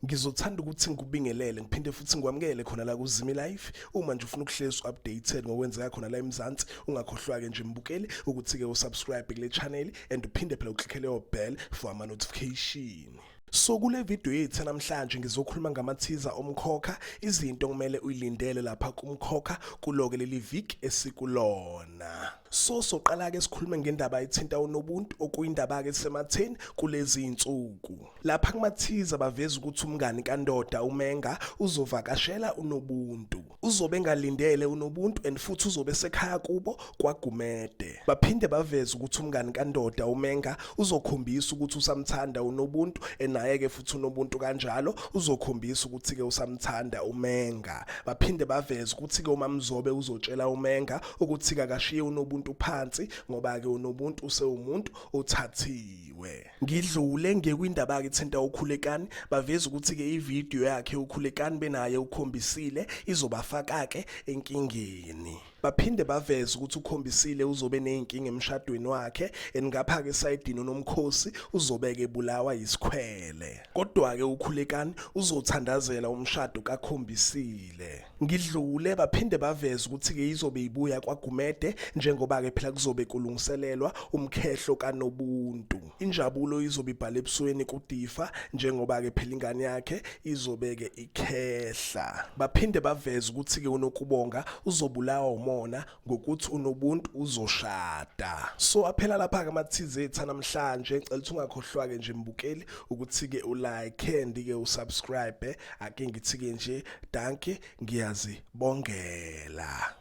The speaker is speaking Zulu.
ngizothanda ukuthi ngikubingelele ngiphinde futhi ngikwamukele khona la kuzimi life uma nje ufuna ukuhlezi updated ngokwenzeka khona la eMzansi ungakhohlwa ke nje mbukeli ukuthi ke usubscribe kule channel and uphinde phela uklickele your bell for ama notification So kule video yethu namhlanje ngizokhuluma ngamathiza omkhokha izinto kumele uyilindele lapha kumkhokha kuloke leli vik esikulona so soqala ke sikhulume ngendaba ethinta unobuntu okuyindaba ke sematheni kulezi insuku lapha kumathiza baveza ukuthi umngani kandoda umenga uzovakashela unobuntu uzobe engalindele unobuntu and futhi uzobe esekhaya kubo kwagumede baphinde baveze ukuthi umngani kandoda umenga uzokhombisa ukuthi usamthanda unobuntu enayeke futhi unobuntu kanjalo uzokhombisa ukuthi ke usamthanda umenga baphinde baveze ukuthi ke umamzobe uzotshela umenga ukuthi kakashiye unobuntu phansi ngoba ke unobuntu usewumuntu othathiwe Ngidlule ngekwindaba yakhe thinta ukhulekani baveza ukuthi ke ivideo yakhe ukhulekani benaye ukhombisile izobafaka ke enkingeni. Baphinde baveza ukuthi ukhombisile uzobe nezinkinga emshadweni wakhe engapha ke sayidini unomkhosi uzobeke bulawa yisikhwele. Kodwa ke ukhulekani uzothandazela umshado kakhombisile. ngidlule baphinde baveze ukuthi-ke izobe ibuya kwagumede njengoba-ke phela kuzobe kulungiselelwa umkhehlo kanobuntu injabulo izobe ibhala ebusweni kudifa njengoba-ke phela ingane yakhe izobe-ke ikhehla baphinde baveze ukuthi-ke unokubonga uzobulawa umona ngokuthi unobuntu uzoshada so aphela lapha ke amathize ethu namhlanje ngicela ukuthi ungakhohlwa ke nje mbukeli ukuthi ke ulike and ke usubscribe ake ngithi ke nje danke ngiyazi bongela